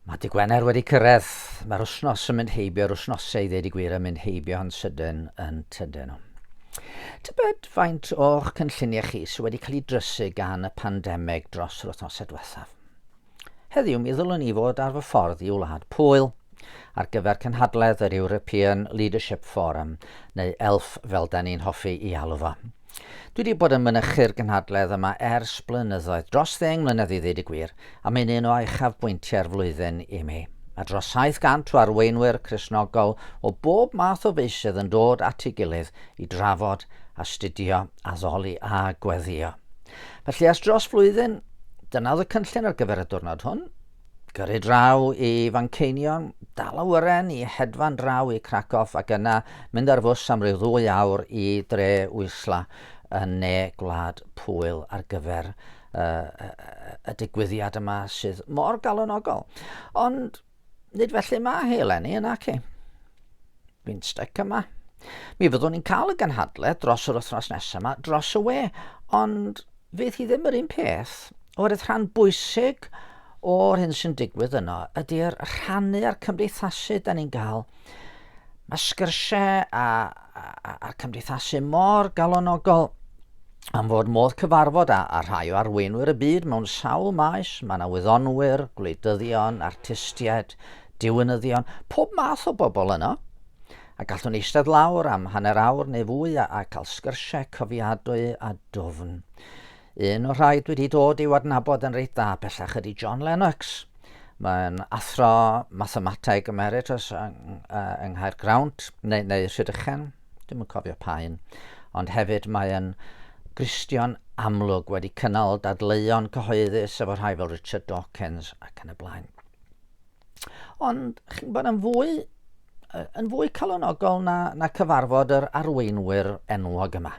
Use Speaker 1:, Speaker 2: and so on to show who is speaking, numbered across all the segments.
Speaker 1: Mae dy Gwener wedi cyrraedd. Mae'r wsnos yn mynd heibio, yr wsnosau i ddeud y gwir yn mynd heibio yn sydyn, yn tydyn nhw. Tybed faint o'ch cynlluniau chi sydd wedi cael ei drysu gan y pandemig dros yr wythnosau diwethaf? Heddiw mi ddylwn i fod ar fy ffordd i wlad Pwyl ar gyfer cynhadledd yr European Leadership Forum, neu ELF fel da ni'n hoffi i alw fo. Dwi wedi bod yn mynychu'r gynhadledd yma ers blynyddoedd, dros ddeng mlynedd i ddweud y gwir, a mae'n un o uchafbwyntiau'r flwyddyn i mi. Mae dros 700 o arweinwyr Cristnogol o bob math o feysydd yn dod at ei gilydd i drafod, astudio, addoli a gweddïo. Felly ers dros flwyddyn, dyna oedd y cynllun ar gyfer y diwrnod hwn. Gyrru draw i Fanceinion, dal awyren i hedfan draw i Krakow ac yna mynd ar fws am ryw ddwy awr i dre Wisla yn ne Gwlad Pwyl ar gyfer y digwyddiad yma sydd mor galonogol. Ond nid felly mae hi eleni, yn naci? Bu'n styc yma. Mi fyddwn ni'n cael y gynhadledd dros yr wythnos nesaf yma dros y we, ond fydd hi ddim yr un peth, oherwydd rhan bwysig o'r hyn sy'n digwydd yno ydy'r rhannu a'r cymdeithasu da ni'n gael. Mae sgyrsiau a, a, a, a'r cymdeithasu mor galonogol am fod modd cyfarfod â, â rhai o arweinwyr y byd mewn sawl maes, mae yna wyddonwyr, gwleidyddion, artistiaid, Diwinyddion, pob math o bobl yno. A gallwn eistedd lawr am hanner awr neu fwy a, a cael sgyrsiau cofiadwy a dwfn. Un o'r rhai dwi wedi dod i'w adnabod yn reit dda bellach ydy John Lennox. Mae'n athro mathemateg emeritus yng, uh, yng Nghaergrawnt, neu, neu Rhydychen, dim yn cofio pa un. Ond hefyd mae'n Gristion amlwg wedi cynnal dadleuon cyhoeddus efo rhai fel Richard Dawkins ac yn y blaen. Ond chi'n gwybod, yn fwy, yn fwy calonogol na, na cyfarfod yr arweinwyr enwog yma.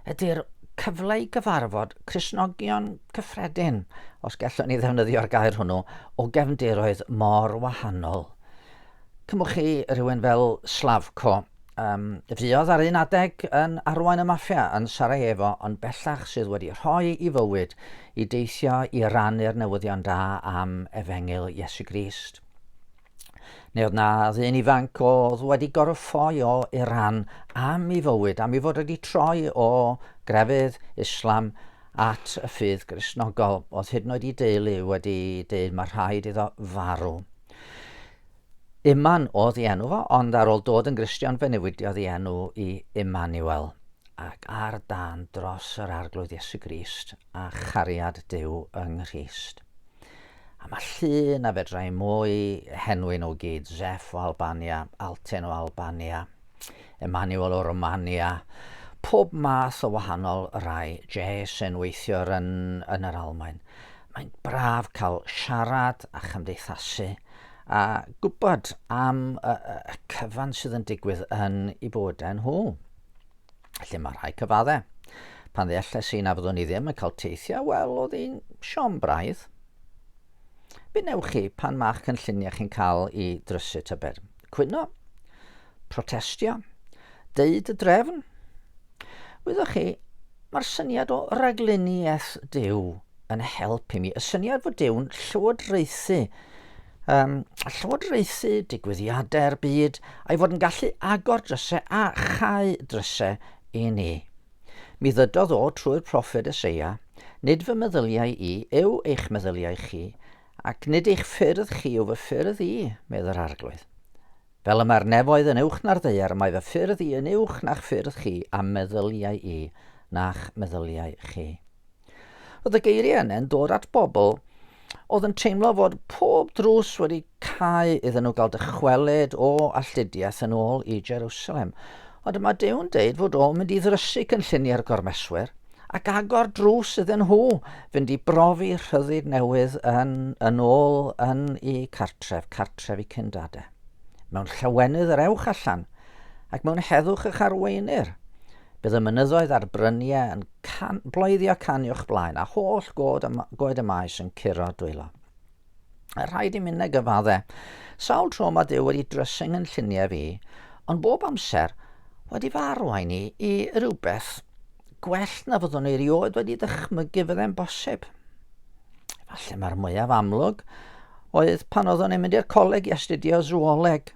Speaker 1: Ydy'r cyfle i gyfarfod Cresnogion cyffredin, os gallwn ni ddefnyddio'r gair hwnnw, o gefndiroedd mor wahanol. Cymwch chi rhywun fel Slavko, um, fuodd ar un adeg yn arwain y maffia yn Sarajevo ond bellach sydd wedi rhoi i fywyd i deithio i rannu'r newyddion da am efengyl Iesu Grist. Neu oedd na ddyn ifanc oedd wedi gorffoi o Iran am i fywyd, am i fod wedi troi o grefydd Islam at y ffydd grisnogol, oedd hyd yn oed i deulu wedi dweud mae rhaid iddo farw. Iman oedd ei enw fo, ond ar ôl dod yn Gristion fe newidiodd ei enw i Immanuel, ac ar dan dros yr arglwydd Iesu Grist a chariad Duw yng Nghrist. A mae llun a fedrai mwy henwyn o gyd, Zef o Albania, Alten o Albania, Emmanuel o Romania, pob math o wahanol rai jazz yn weithio yn yn yr Almaen. Mae'n braf cael siarad a chymdeithasu a gwybod am y, y cyfan sydd yn digwydd yn i bywydau nhw. Felly mae rhai cyfaddau. Pan ddealles i na fyddwn i ddim yn cael teithiau, wel, oedd hi'n siom braidd. Be wnewch chi pan mae'ch cynlluniau chi'n cael i drysu tybed? cwyno, protestio, deud y drefn. Wyddoch chi, mae'r syniad o raglenni eth Dyw yn help i mi. Y syniad fod Dyw'n llywodraethu um, llywodraethu digwyddiadau'r byd a'i fod yn gallu agor drysau a chau drysau i ni. Mi ddydodd o trwy'r proffed Eseia, nid fy meddyliau i yw eich meddyliau chi, Ac nid eich ffyrdd chi yw fy ffyrdd i, medd yr Arglwydd. Fel y mae'r nefoedd yn uwch na'r ddaear, mae fy ffyrdd i yn uwch na'ch ffyrdd chi, a'm meddyliau i na'ch meddyliau chi. Roedd y geiriau yne'n dod at bobl oedd yn teimlo fod pob drws wedi cau iddyn nhw gael dychwelyd o alltudiaeth yn ôl i Jerusalem. Ond mae Dew'n deud fod o'n mynd i ddrysu cynlluniau'r gormeswyr, ac agor drws iddyn nhw fynd i brofi rhyddid newydd yn, yn ôl yn y cartref, cartref i cyndade. Mewn llawenydd yr ewch allan, ac mewn heddwch eich arweinir. Bydd y mynyddoedd a'r bryniau yn can, bloeddio can i'ch blaen, a holl god y, goed y maes yn curo dwylo. A rhaid i minnau gyfadde. Sawl tro mae Duw wedi drysing yn lluniau fi, ond bob amser wedi fy arwain i i rywbeth gwell na fyddwn i erioed wedi dychmygu fydde'n bosib. Falle mae'r mwyaf amlwg oedd pan oeddwn i'n mynd i'r coleg i astudio zooleg.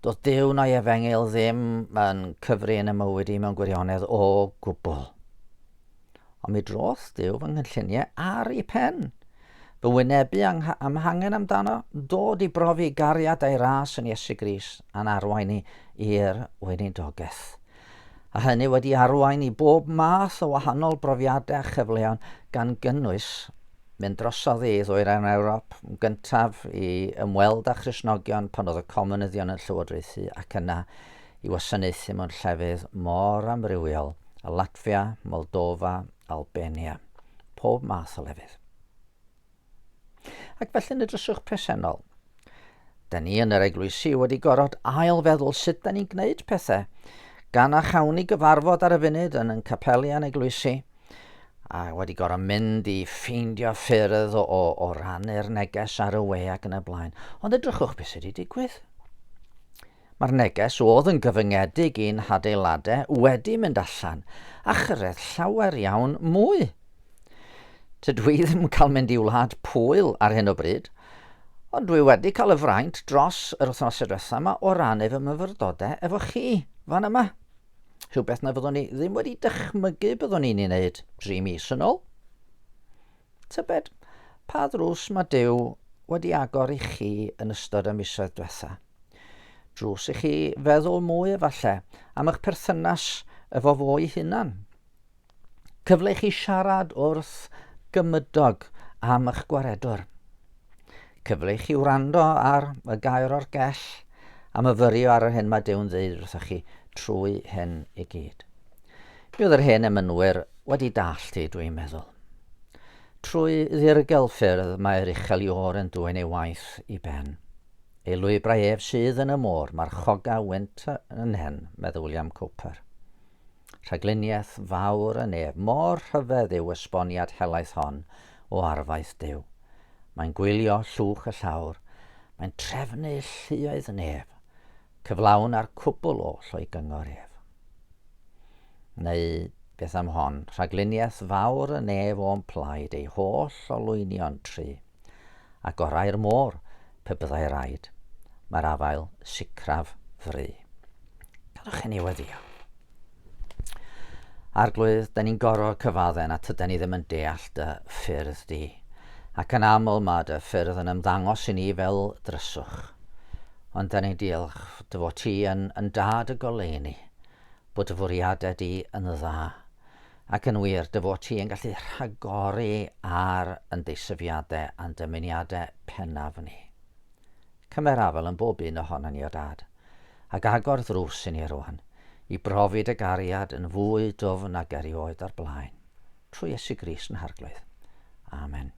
Speaker 1: Doedd Duw na'i efengyl ddim yn cyfri yn y mywyd i mewn gwirionedd o gwbl. Ond mi droth Duw fy nghynlluniau ar ei pen. Fy wynebu am hangen amdano, dod i brofi gariad a'i ras yn Iesu Gris a'n arwain ni i'r weinidogaeth. A hynny wedi arwain i bob math o wahanol brofiadau a chyfleon gan gynnwys mynd drosodd i ddwyrain Ewrop yn gyntaf i ymweld â Christnogion pan oedd y Comunyddion yn llywodraethu ac yna i wasanaethu mewn llefydd mor amrywiol â Latfia, Moldofa, Albania, pob math o lefydd. Ac felly yn y dryswch presennol, da ni yn yr eglwysi wedi gorfod ail-feddwl sut da ni'n gwneud pethau, gan a chawn ni gyfarfod ar y funud yn yn capelian eglwysi, a wedi gorfod mynd i ffeindio ffyrdd o, o, o rannu'r neges ar y we ac yn y blaen. Ond edrychwch beth sydd wedi digwydd. Mae'r neges oedd yn gyfyngedig i'n hadeiladau wedi mynd allan a chyrraedd llawer iawn mwy. Tydw i ddim yn cael mynd i Wlad Pwyl ar hyn o bryd, ond dwi wedi cael y fraint dros yr wythnosau diwethaf yma o rannu fy myfyrdodau efo chi fan yma. Rhywbeth na fyddwn i ddim wedi dychmygu byddwn i'n ei wneud dri mis yn ôl. Tybed pa ddrws mae Duw wedi agor i chi yn ystod y misoedd diwethaf? Drws i chi feddwl mwy efallai am eich perthynas efo fo'i hunan. Cyfle i chi siarad wrth gymydog am eich gwaredwr. Cyfle i chi wrando ar y gair o'r gell am y fyrio ar yr hyn mae Dew'n ddeud wrthych chi trwy hyn i gyd. Mi oedd yr hen emynwyr wedi dallt i, dwi'n meddwl. Trwy ddirgel ffyrdd mae'r uchel i oren dwyn ei waith i ben. Y llwybrau ef sydd yn y môr, marchoga wynt yn hen, meddai William Cowper. Rhagluniaeth fawr yn ef, mor rhyfedd yw esboniad helaeth hon o arfaeth Duw. Mae'n gwylio llwch y llawr, mae'n trefnu lluoedd nef, cyflawn a'r cwbl oll o'i gyngor ef. Neu, beth am hon, rhagluniaeth fawr yn ef o'n plaid ei holl olwynion try, a gorau'r môr, pe byddai raid, mae'r afael sicraf fry. Gadwch i ni weddio. Arglwydd, da ni'n gorfod cyfadden a tyda ni ddim yn deall dy ffyrdd di, ac yn aml mae dy ffyrdd yn ymddangos i ni fel dryswch. Ond da ni'n diolch dy fod ti yn, yn dad y goleuni, bod dy fwriadau di yn dda, ac yn wir dy fod ti yn gallu rhagori ar yn deisyfiadau a'n dymuniadau pennaf ni. Cymer afel yn bob un ohono ni o dad, ac agor ddrws i ni rwan, i brofi dy gariad yn fwy dwfn nag erioed o'r blaen. trwy Iesu Gris yn harglwydd. Amen.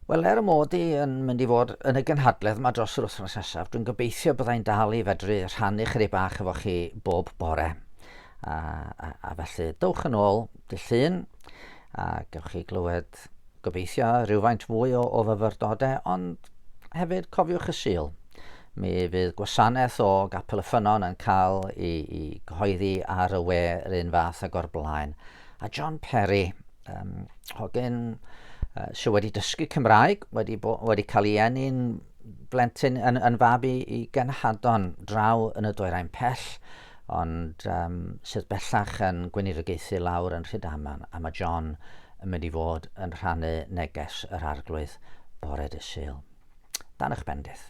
Speaker 1: Wel, er y mod i yn mynd i fod yn y gynhadledd yma dros yr wythnos nesaf, dwi'n gobeithio byddai'n dal i fedru rhannu chyri bach efo chi bob bore. A, a, a felly, dowch yn ôl dy llun, a gewch chi glywed Gymraeg. Gobeithio rhywfaint fwy o, o fyfyrdodau, ond hefyd cofiwch y Sul. Mi fydd gwasanaeth o Gapel y Ffynnon yn cael ei, ei gyhoeddi ar y we yr un fath ag o'r blaen. A John Perry, um, hogyn uh, sydd wedi dysgu Cymraeg, wedi, bo, wedi cael ei enni'n blentyn yn, yn fab i, i genhadon draw yn y dwyrain pell, ond um, sydd bellach yn gweinidogaethu lawr yn Rhydaman, a mae John yn mynd i fod yn rhannu neges yr arglwydd bore dy Sul. Dan eich bendith.